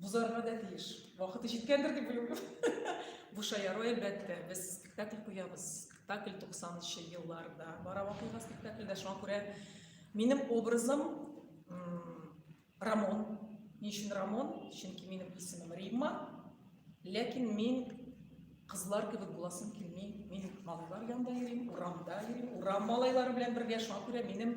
Бузарга да тиеш. Вакыты җиткәндер дип уйлыйм. Бу шаяру әлбәттә. Без спектакль куябыз. Спектакль 90-нчы елларда бара вакыйга спектакльдә. Шуңа күрә минем образым Рамон. Ни өчен Рамон? Чөнки минем исемем Римма. Ләкин мин кызлар кебек буласым килми. Мин малайлар янында йөрим, урамда йөрим, урам малайлары белән бергә. Шуңа күрә минем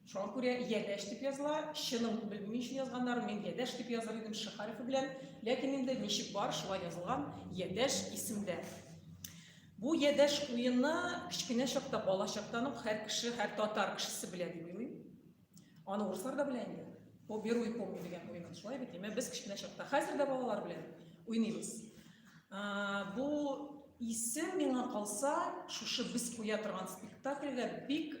Шуңа күрә Ядәш дип языла. Чынын белмим өчен язганнар, мин Ядәш дип языр идем Ш хәрефе белән. Ләкин инде ничек бар, шулай язылган Ядәш исемдә. Бу Ядәш уены кечкенә чакта, бала чактан ук һәр кеше, һәр татар кешесе белә дип уйлыйм. Аны урыслар да белә инде. Бу беруй помню дигән уен шулай бит, әмма без кечкенә чакта, хәзер дә балалар белән уйныйбыз. Бу исем миңа калса, шушы без куя торган спектакльгә бик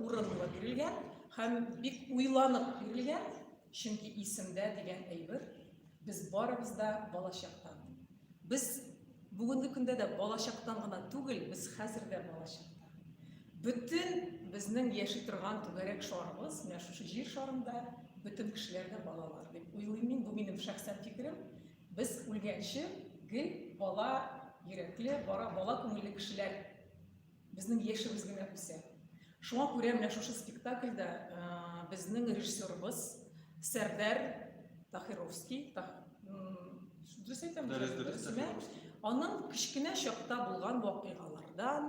урынлы бирелгән һәм бик уйланып бирелгән, чөнки исемдә дигән әйбер без барыбыз да балачактан. Без бүгенге көндә дә балачактан гына түгел, без хәзер дә балачакта. Бөтен безнең яши торган түгәрәк шарыбыз, менә шушы җир шарында бөтен кешеләр дә балалар дип уйлыйм мин, бу минем шәхсән фикерем. Без үлгәнче гел бала йөрәкле, бара бала күңелле кешеләр безнең яшебез генә үсә. Шуңа күрә менә шушы спектакльдә э, безнең режиссерыбыз Сәрдәр Тахировский, дөрес әйтәм, аның кечкенә чакта булган вакыйгалардан,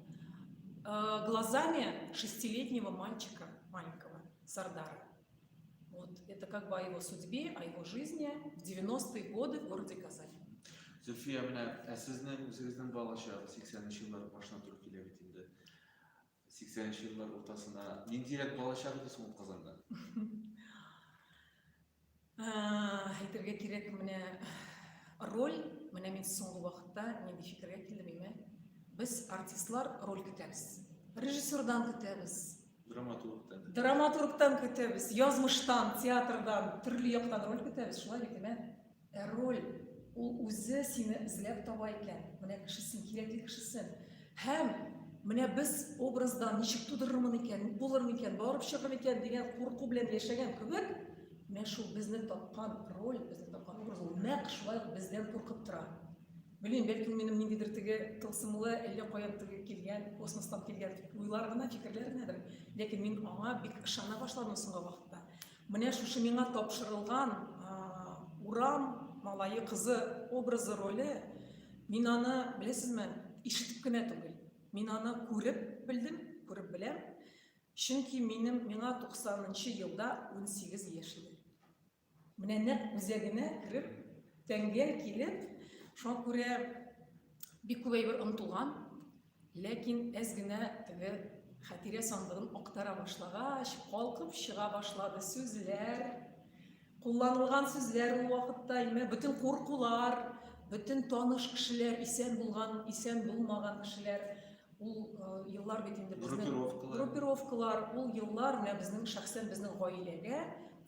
Э, глазами шестилетнего мальчика маленького, Сардара. Вот это как бы о его судьбе, о его жизни в 90-е годы в городе Казань. Зульфия, менә ә сезнең үзегезнең балачагы 80-нче еллар башына туры килә бит инде. 80-нче еллар уртасына. Ниндирәк балачак иде соң Казанда? Әйтергә кирәк, менә роль, менә мин соңгы вакытта нинди фикергә килдем име? Без артистлар роль көтәбез. Режиссердан көтәбез. Драматургтан. Драматургтан көтәбез, язмыштан, театрдан, төрле яктан роль көтәбез, шулай бит, әмә? Ә роль, ул үзе сине эзләп таба икән, менә кешесен, кирәкле кешесен. Һәм менә без образда ничек тудырырмын икән, ник булыр микән, барып чыгыр микән дигән курку белән яшәгән кебек, менә шул безне тапкан роль, безне тапкан образ ул нәкъ шулай бездән куркып тора. Белмим, бәлки ул минем ниндидер теге тылсымлы, әллә каян теге килгән, космостан килгән уйлар гына, фикерләр генәдер. Ләкин мин аңа бик ышана башладым соңгы вакытта. Менә шушы миңа тапшырылган урам малае кызы образы роле, мин аны, беләсезме, ишетеп кенә түгел, мин аны күреп белдем, күреп беләм, чөнки минем миңа 90 нчы елда 18 яшь иде. Менә нәкъ үзәгенә кереп, тәңгәл килеп, шуңа күрә бик күп әйбер онытылган, Ләкин әз генә теге хәтирә сандыгын актара башлагач, калкып чыга башлады сүзләр. Кулланылган сүзләр ул вакытта имә бөтен куркулар, бөтен таныш кешеләр, исән булган, исән булмаган кешеләр, ул еллар бит инде безнең группировкалар, ул еллар менә безнең шәхсән безнең гаиләгә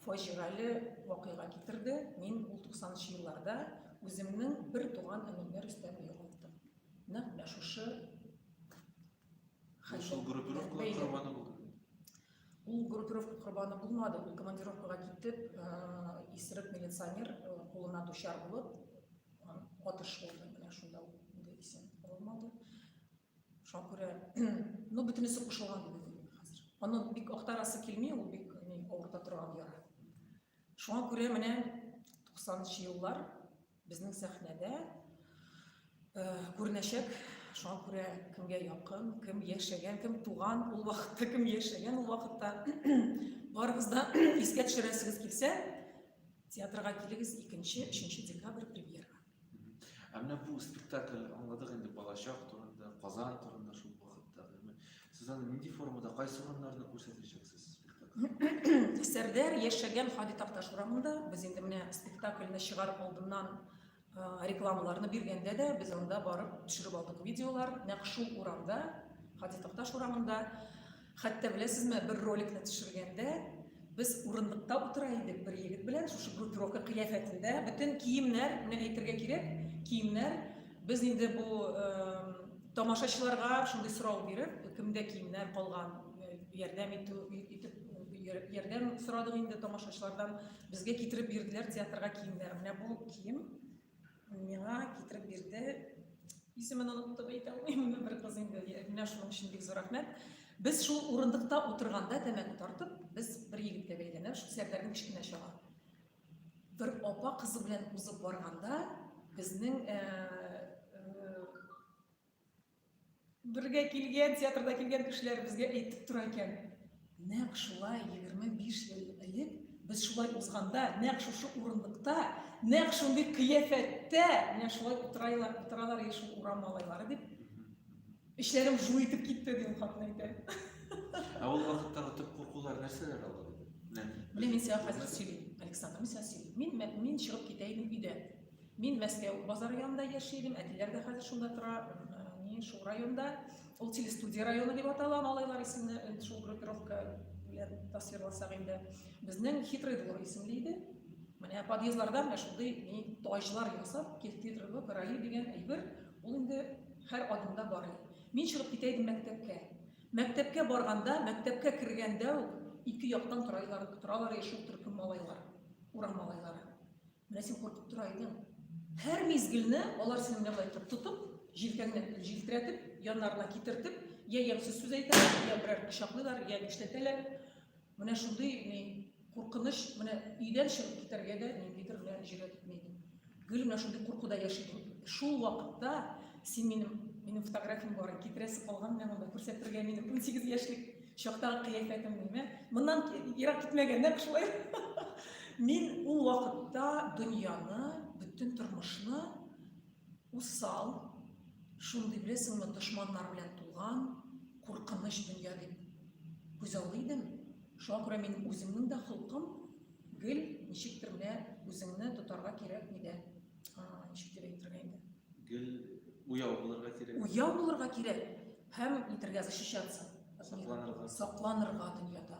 фаҗигале вакыйга китерде. Мин ул 90 нчы елларда үземнең бер туган энемне Рөстәмне югалттым. Нәкъ менә шушы Ул группировка корбаны булды. Ул группировка корбаны булмады. Ул командировкага китеп, исерек милиционер кулына дучар булып, атыш булды. Менә шунда ул инде исән булмады. Шуңа күрә, ну, бөтенесе кушылган инде хәзер. Аны бик актарасы килми, ул бик авырта торган яра. Шуңа күрә менә 90 еллар Безнең сәхнәдә күренәчәк, шуңа күрә кемгә якын, кем яшәгән, кем туган, ул вакытта кем яшәгән, ул вакытта барыбыз да искә төшерәсегез килсә, театрга килегез 2-3 декабрь премьера. Ә менә бу спектакль аңладык инде балачак турында, Казан турында шул Сез аны нинди формада, кайсы урыннарда күрсәтәчәксез спектакль? Сәрдәр яшәгән Хади Такташ урамында. Без инде менә спектакльне чыгарып алдыннан рекламаларны биргәндә дә без анда барып төшереп алдык видеолар. Нәкъ шул урамда, Хади Такташ урамында. Хәтта беләсезме, бер роликны төшергәндә без урындыкта утыра идек бер егет белән, шушы группировка кыяфәтендә, бөтен киемнәр, менә әйтергә кирәк, киемнәр Без инде бу тамашачыларга шундый сорау биреп, кемдә киемнәр калган, ярдәм итү итеп ярдәм сорадык инде тамашачылардан. Безгә китереп бирделәр театрга киемнәр. Менә бу кием миңа китереп бирде. Исемен оныттым, әйтә алмыйм, бер кыз инде. Менә шуның өчен бик зур рәхмәт. Без шул урындыкта утырганда тәмәке тартып, без бер егеткә бәйләнеп, шул Сәрдәрнең кечкенә чагы. Бер апа кызы белән узып барганда, безнең э, э, бергә килгән, театрда килгән кешеләр безгә әйтеп тора икән. Нәкъ шулай 25 ел элек без шулай узганда нәкъ шушы урындыкта нәкъ шундый кыяфәттә менә шулай утырайлар утыралар шул урам малайлары дип Эчләрем жу итеп китте, ди ул хатын әйтә. Ә ул вакыттагы төп куркулар нәрсәләр алар иде? Менә мин сиңа хәзер сөйлим, Александр, мин сиңа сөйлим. Мин мин чыгып китә идем өйдән. Мин Мәскәү базары янында яши идем, әтиләр дә хәзер шунда тора, ни шул районда. Ул телестудия районы дип атала, малайлар исемне шул группировка белән тасвирласак инде. Безнең хитрый двор исемле иде. Менә подъездларда менә шундый ни таҗлар ясап, киртитры короли дигән әйбер Ул инде һәр адымда барый. Мин чыгып китә идем мәктәпкә. Мәктәпкә барганда, мәктәпкә кергәндә үк ике яктан торайлар, торалар ие шул төркем малайлар, урам малайлары. Менә син куркып тора идең. Һәр мизгелне алар сине менә болай итеп тотып, җилкәңне җилтерәтеп, яннарына китертеп, я ямьсез сүз әйтәләр, я берәр пычаклыйлар, я нишләтәләр. Менә шундый ни куркыныч, менә өйдән чыгып китәргә дә ниндидер генә җөрьәт итми идем. Гел менә шундый куркуда яши идем. Шул вакытта син минем минем фотографиям бар, китерәсе калган менә монда күрсәтергә минем 18 яшьлек чактагы кыяфәтем мин. Моннан ерак китмәгәннәр шулай. Мин ул вакытта дөньяны, бөтен тормышны Усал, шундый беләсеңме дошманнар белән тулган, куркыныч дөнья дип күзаллый идем. Шуңа күрә мин үземнең дә холкым гел ничектер менә үзеңне тотарга кирәкми дә. Ничек дип әйтергә инде? Гел уяу булырга кирәк. Уяу булырга кирәк һәм нитергә защищаться. Сакланырга. Сакланырга дөньяда.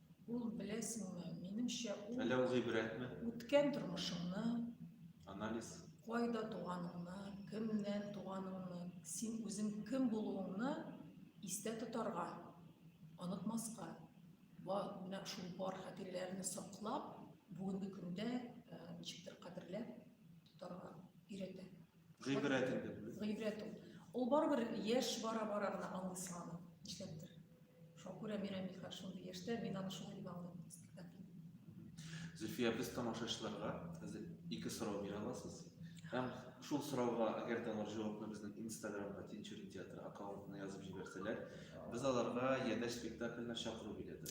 Ул, беләсеңме, минемчә, ул... Әллә ул гыйбрәтме? Үткән тормышыңны... Анализ. Кайда туганыңны, кемнән туганыңны, син үзең кем булуыңны истә тотарга, онытмаска, менә шул бар хатирәләрне саклап, бүгенге көндә ничектер кадерләп тотарга өйрәтә. Гыйбрәт инде бу. Гыйбрәт ул. Ул барыбер яшь бара-бара гына аңлый сыганы. Нишләптер. Шуңа күрә мин Әмирхан шундый яшьтә, мин аны шулай дип аңлыйм спектакль. Зөлфия, без тамашачыларга хәзер ике сорау бирә аласыз. Һәм шул сорауга, әгәр дә алар җавапны безнең Инстаграмга Тинчури театры аккаунтына язып җибәрсәләр, без аларга Ядәш спектакленә чакыру билеты.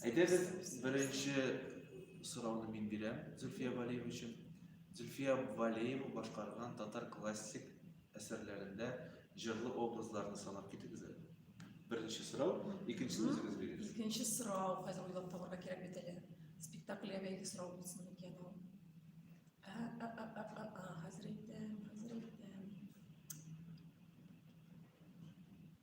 Әйдәгез, беренче сорауны мин бирәм Зөлфия Валиева өчен. Зөлфия Валеева башкарган татар классик әсәрләрендә җырлы образларны санап китегез әле. Беренче сорау, икенчесен үзегез бирегез. Икенче сорау, хәзер уйлап табарга кирәк бит әле. Спектакльгә бәйле сорау булсын микән ул? Хәзер әйтәм, хәзер әйтәм.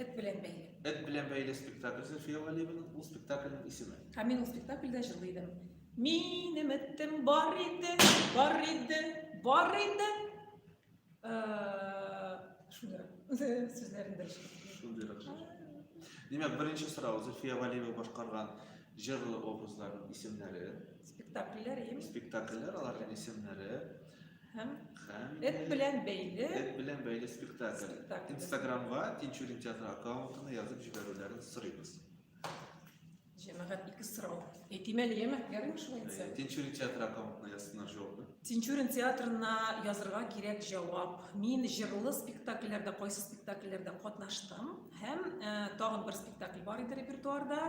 Эт белән бәйле. Эт белән бәйле спектакль Зөлфия Галиеваның ул спектакльнең исеме. Һәм мин ул спектакльдә җырлый идем. Минем эттем бар иде, бар иде, бар иде. Шулай. Сүзләрен дөрес. Шундыйрак. Димәк, беренче сорау Зөлфия Галиева башкарган җырлы образларның исемнәре. Спектакльләр, ем. Спектакльләр, аларның исемнәре. Һәм Һәм эт белән бәйле Эт белән бәйле спектакль. Спектакль. Инстаграмга Тинчурин театры аккаунтына язып җибәрүләрен сорыйбыз. җәмәгать ике сорау. Әйтим әле, яме, ярыймы шулай Э, әйтсәм? Тинчурин театры аккаунтына язсыннар җавапны. Тинчурин театрына язырга кирәк җавап. Мин җырлы спектакльләрдә, кайсы спектакльләрдә катнаштым һәм э, тагын бер спектакль бар иде репертуарда.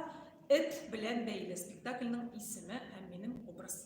Эт белән бәйле спектакльнең исеме һәм минем образ.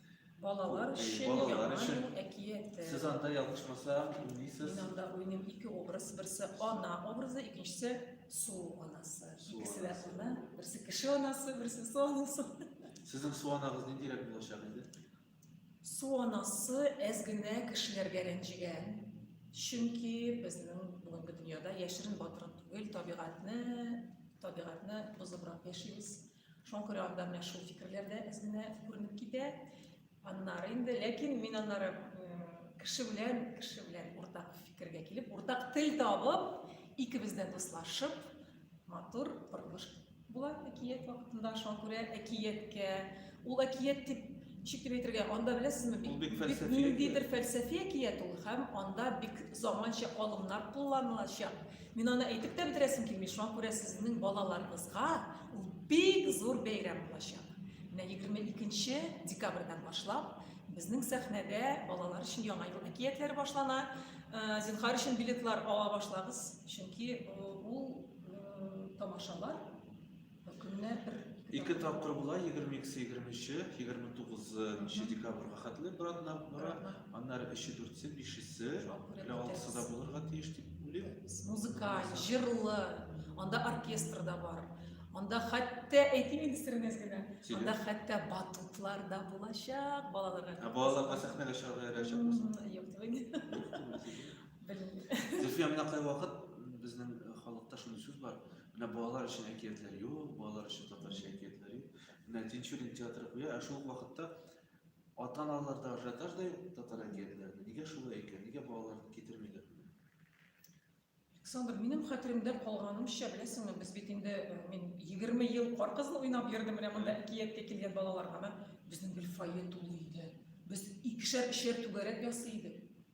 Балалар Бу, э, өчен балалар яңа өчен. ел әкияте. Сез анда ялгышмаса уйныйсыз. Мин анда уйныйм ике образ, берсе ана образы, икенчесе су анасы. Су Икесе дә анасы. ана, берсе кеше анасы, берсе су анасы. Сезнең су анагыз ниндирәк булачак инде? Су анасы әз генә кешеләргә рәнҗегән. Чөнки безнең бүгенге дөньяда яшерен батырын түгел, табигатьне, табигатьне бозыбрак яшибез. Шуңа күрә анда менә шул фикерләр дә әзенә күренеп китә. Аннары инде, ләкин мин аннары кеше белән, кеше белән уртак фикергә килеп, уртак тел табып, икебез дә дуслашып, матур борылыш була әкият вакытында. Шуңа күрә әкияткә, ул әкият дип ничек дип әйтергә, анда беләсезме, бик, бик фәлсәфи ниндидер фәлсәфи әкият ул һәм анда бик заманча алымнар кулланылачак. Мин аны әйтеп тә бетерәсем килми, шуңа күрә сезнең балаларыгызга ул бик зур бәйрәм булачак. Менә 22 декабрьдән башлап безнең сәхнәдә балалар өчен яңа ел әкиятләре башлана. Э, зинхар өчен билетлар ала башлагыз, чөнки э, ул э, тамашалар Көнне бер ике тапкыр була, 22-се, 23-е, 29-нчы декабрьга хәтле бер атна бара, аннары 3-е, 4-се, 5-се, әле 6-сы да булырга тиеш дип уйлыйм. Музыкаль, җырлы, анда оркестр да бар. Анда хәтта әйтим инде сиренез генә. Анда хәтта батутлар да булачак балаларга. Ә балаларга сәхнәгә чыгарга ярачак булсын. Юк, түгел. Зөлфия, менә кайвакыт безнең халыкта шундый сүз бар. Менә балалар өчен әкиятләр юк, балалар өчен татарча әкиятләр юк. Менә Тинчурин театры куя, ә шул вакытта ата-аналар да ажиотаж да юк татар әкиятләренә. Нигә шулай икән? Нигә балаларны китермиләр? Александр, минем хәтеремдә калганымча, беләсеңме, без бит инде э, мин 20 ел кар кызын уйнап йөрдем, менә монда әкияткә килгән балаларга. Безнең гел фойе тулы иде. Без икешәр-өчәр түгәрәк ясый идек.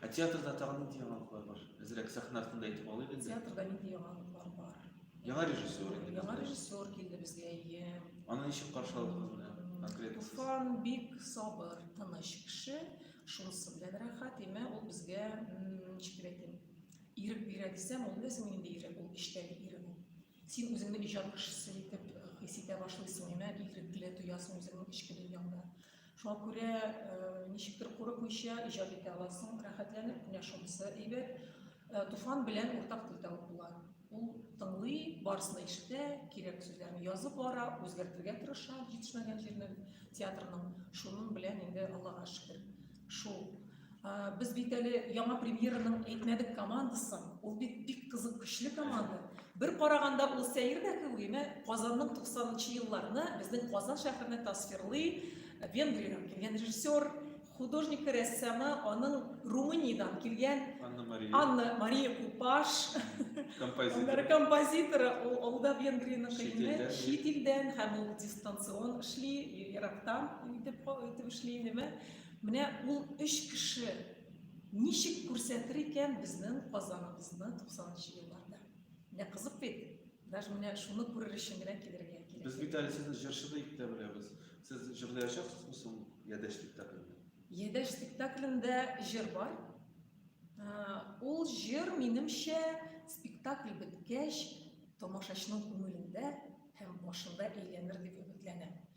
Ә театрда тагын нинди яңалыклар бар? Әзрәк сәхнә артында әйтеп алыйк инде. Театрда нинди яңалыклар бар? Яңа режиссер инде. Яңа режиссер килде безгә, әйе. Аны ничек каршы алдыгыз менә? Конкретно. Туфан бик сабыр, тыныч кеше. Шунысы белән рәхәт, әмма ул безгә, ничек әйтим, ирек бирә дисәм, ул беләсең инде ирек, ул эчтән ирек ул. Син үзеңне иҗат кешесе итеп хис итә башлыйсың, әмма ирекле тоясың үзеңнең эчке дөньяңда. Шуңа күрә ничектер курыкмыйча иҗат итә аласың, рәхәтләнеп кенә шунысы әйбәт. Туфан белән уртак тел табып була. Ул тыңлый, барысын ишетә, кирәк сүзләрне язып бара, үзгәртергә тырыша, җитешмәгән җирнең театрның шуның белән инде Аллага шөкер. Шул Без бит әле яңа премьераның әйтмәдек командасын. Ул бит бик кызык, көчле команда. Бер караганда ул сәер дә кеби, менә Казанның 90-нчы елларны безнең Казан шәһәренә тасвирлый Венгриядән килгән режиссер, художник рәссамы, аның Румыниядән килгән Анна Мария, Анна Мария Купаш, композитор. композиторы, ул, ул да Венгриянең кыйммәт, чит илдән һәм ул дистанцион эшли, ерактан итеп, итеп эшли, нәмә. Менә ул өч кеше ничек күрсәтер икән безнең Казаныбызны 90 нчы елларда? Менә кызык бит. Даже менә шуны күрер өчен генә килергә кирәк. Без бит әле сезне җырчы дип тә беләбез. Сез җырлаячаксызмы соң Ядәш спектаклендә? Ядәш спектаклендә җыр бар. Ә, Ул җыр, минемчә, спектакль беткәч, тамашачының күңелендә һәм башында әйләнер дип өметләнәм.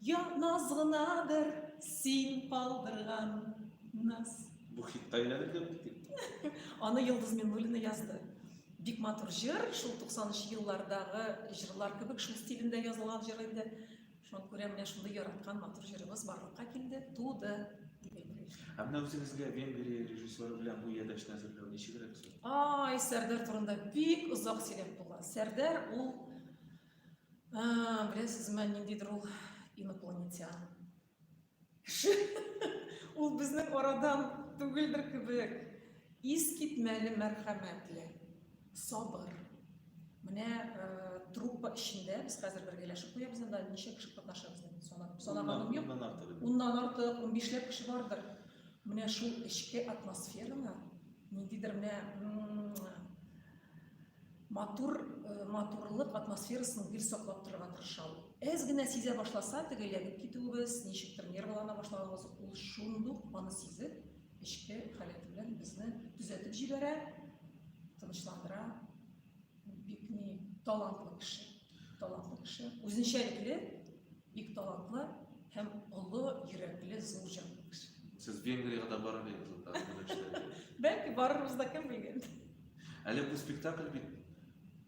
Ятмас гынадыр син калдырган наз. Бу хитка әйләнеп дә бит. Аны Йолдыз Миннуллина язды. Бик матур җыр, шул 90 еллардагы җырлар кебек шул стилендә язылган җыр инде. Шуңа күрә менә шундый яраткан матур җырыбыз барлыкка килде, туды. Ә менә үзегезгә Венгрия режиссеры белән бу ядәшне әзерләү ничегрәк соң? Ай, Сәрдәр турында бик озак сөйләп була. Сәрдәр ул А, беләсез мә ниндидер ул инопланетян. Ул безнең арадан түгелдер кебек. Ис китмәле мәрхәмәтле, сабыр. Менә э, труппа эчендә без хәзер бергәләшеп куябыз анда ничә кеше катнаша безнең санап санаганым юк. Уннан артык. Уннан артык, 15 ләп кеше бардыр. Менә шул эчке атмосфераны ниндидер менә матур э, матурлык атмосферасын гел саклап торырга тырышам. Әз генә сизә башласа, теге ягып китүебез, ничектер нервлана башлаганыбыз, ул шундук аны сизеп, эчке халәте белән безне төзәтеп җибәрә, тынычландыра. Бик ни талантлы кеше, талантлы кеше, үзенчәлекле Бик талантлы һәм олы йөрәкле зур җан кеше. Сез Венгриягә дә барыр идегез анда минем эшләргә. Бәлки барырбыз да кем белгән. Әле бу спектакль бит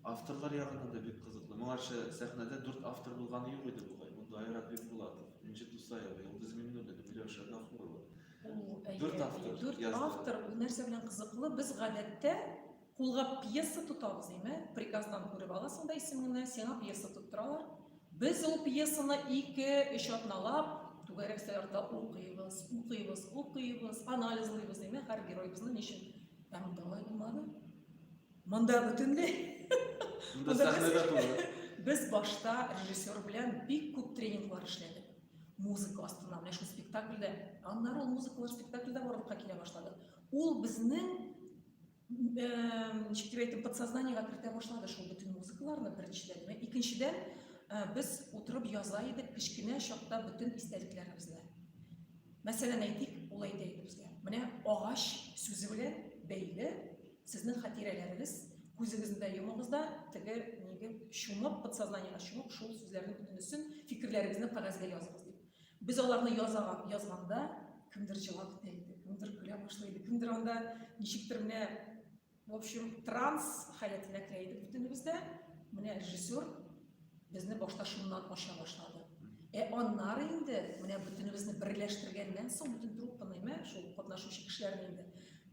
авторлар ягыннан да бик кызыклы. Моңарчы сәхнәдә дүрт автор булганы юк иде бугай. Монда Айрат Бикбулатов, Энҗе Тусаева, Йолдыз Миңнуллина, Миләүшә Гафурова. Дүрт автор. Дүрт автор. Бу нәрсә белән кызыклы? Без гадәттә Кулга пьеса тотабыз дими, приказдан күреп аласың да исемеңне, сиңа пьеса тоттыралар. Без ул пьесаны ике, өч атналап түгәрәк сәгатьтә укыйбыз, укыйбыз, укыйбыз, анализлыйбыз дими, һәр героебызны ничек ә монда алай булмады. Монда бөтенләй. Монда сәхнәдә түгел. Без башта режиссер белән бик күп тренинглар эшләдек. Музыка астына, менә шул спектакльдә, аннары ул музыкалар спектакльдә барлыкка килә башлады. Ул безнең ничек дип әйтим подсознаниега кертә башлады шул бөтен музыкаларны беренчедән икенчедән без утырып яза идек кечкенә чакта бөтен истәлекләребезне мәсәлән әйтик ул әйтә иде безгә менә агач сүзе белән бәйле сезнең хатирәләрегез күзегезне дә йомыгыз да теге ниге чумып подсознаниега чумып шул сүзләрнең бөтенесен фикерләрегезне кәгазьгә языгыз дип Без аларны язаган, язганда кемдер җылап та иде, кемдер көлә башлый иде, кемдер анда ничектер менә, в общем, транс халәтенә керә иде бөтенебез дә. Менә режиссер безне башта шуннан ача башлады. Ә аннары инде менә бөтенебезне берләштергәннән соң бөтен труппаны, мә, шул катнашучы кешеләрне инде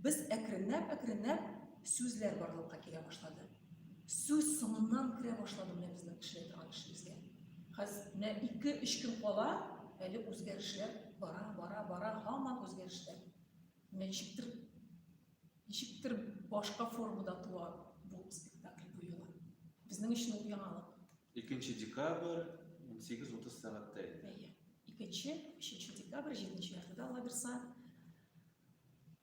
без әкренләп-әкренләп сүзләр барлыкка килә башлады. Сүз соңыннан керә башлады менә безнең эшләй торган эшебезгә. Хәзер менә 2-3 көн кала, әле үзгәрешләр бара, бара, бара, һаман үзгәрешләр. Ничектер ничектер башка формада туа бу спектакль бу юлы. Безнең өчен ул яңалык. 2 декабрь 18:30 сәгатьтә инде. Әйе. 2 3 декабрь 7 яртыда Лаберса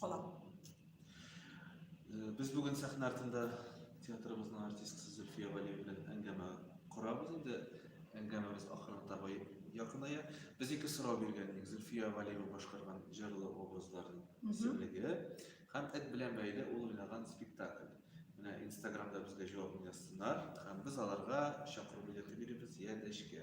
калам. Без бүген сәхнә артында театрыбызның артисткасы Зөлфия Валиева белән әңгәмә корабыз инде. Әңгәмәбез ахырына таба якыная. Без ике сорау биргән идек. Зөлфия Валиева башкарган җырлы образларын исемлеге һәм эт белән бәйле ул уйнаган спектакль. Менә Инстаграмда безгә җавап язсыннар һәм без аларга чакыру билеты биребез, я дәшкә.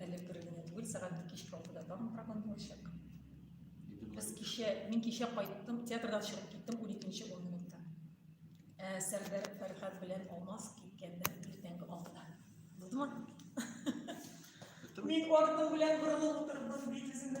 Әле бер генә түгел, сәгать кичке алтыда тагын прогон булачак. Без кичә, мин кичә кайттым, театрдан чыгып киттем 12-нче 10 минутта. Ә Сәрдәр Фәрхәт белән Алмаз киткәндә иртәнге алтыда. Булдымы? Мин артым белән борылып утырдым, бит үземне